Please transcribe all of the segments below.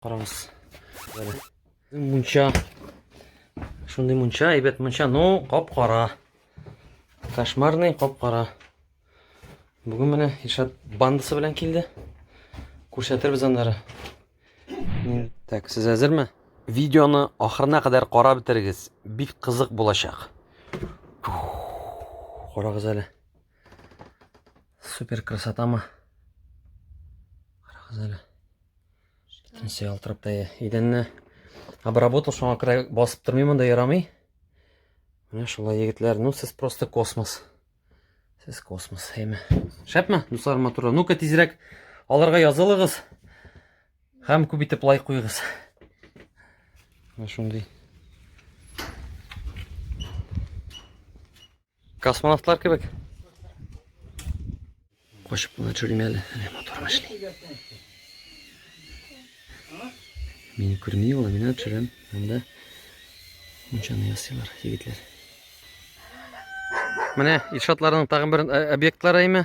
Караңыз. Бәле. Мунча. Шундый мунча, әйбәт мунча, но ну, кап-кара. Кошмарный кап-кара. Бүген менә Ишат бандасы белән килде. Күрсәтербез аннары. Так, сез әзерме? Видеоны ахырына кадәр карап бетерегез. Бик кызык булачак. Карагыз әле. Супер красотамы? Карагыз әле. Икенче ялтырапта идәнне обработал, шуңа күрә басып тормый монда ярамый. Менә шулай егетләр, ну сез просто космос. Сез космос, әйме. Шәпме, дуслар матурлар? Ну-ка тизрәк аларга язылыгыз. Һәм күп итеп лайк куйыгыз. Менә шундый Космонавтлар кебек. Качып кына төшерим әле. Әнә моторым эшли. Мине күрми ул, мин төшерәм. Анда мунчаны ясыйлар егетләр. Менә Илшатларның тагын бер объектлары име?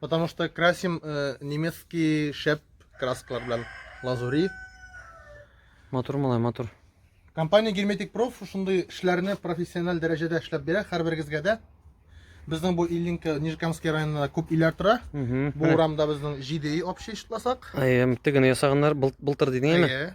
Потому что красим э, немецкий шеп краскалар белән лазури. Матур малай, матур. Компания Герметик Проф шундый эшләрне профессиональ дәрәҗәдә эшләп бирә һәрберегезгә дә. Безнең бу Ильинка Нижкамский районында күп иләр тора. Бу урамда безнең 7 й общий шутласак. Әйе, тегене ясаганнар былтыр дидеңме? Әйе.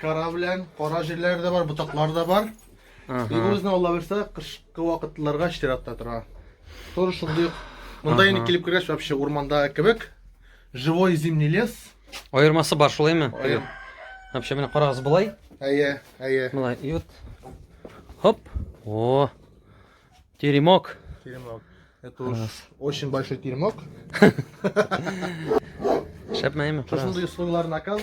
Кара белән кара җирләре дә бар, ботаклар да бар. Ага. Үзенә Алла бирсә, кышкы вакытларга чиратта тора. Тоже шундый. Монда инде килеп кергәч вообще урманда кебек. Живой зимний лес. Аермасы бар шулаймы? Аер. Вообще менә карагыз болай. Әйе, әйе. Болай. И вот. Хоп. О. Теремок. Теремок. Это уж очень большой теремок. Шәпмәйме? Шушындый условилар наказ.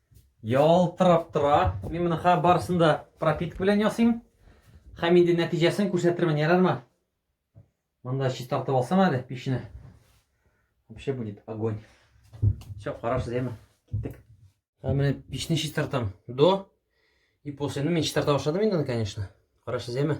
Ялтырап тора. Мин моны хә барысын да пропитка белән ясыйм. Һәм инде нәтиҗәсен күрсәтермен, ярармы? Монда чистартып алсам әле печне. Вообще будет огонь. Все, хорошо, зәйме. Киттек. Һәм менә печне чистартам. До и после. Ну, мин чистарта башладым инде, конечно. Хорошо, зәйме.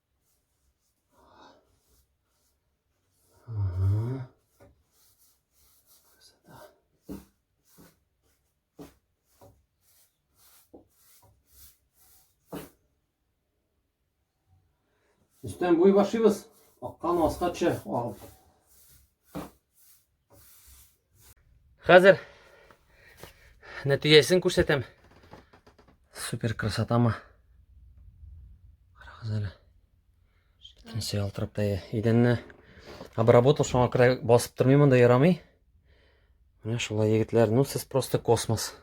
Үстән буй башлыйбыз. Аккан аска төшә агып. Хәзер нәтиҗәсен күрсәтәм. Супер красотама. Карагыз әле. Бөтенесе ялтырап та идәнне обработал, шуңа күрә басып тормыйм монда ярамый. Менә шулай егетләр, ну сез просто космос.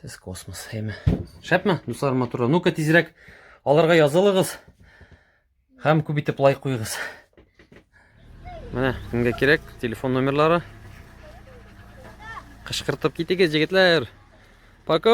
Сез космос, әйме. Шәпме, дуслар матурлар? Ну-ка тизрәк аларга язылыгыз. Һәм күп итеп лайк куйыгыз. Менә кемгә кирәк телефон номерлары. Кышкыртып китегез, егетләр. Пока!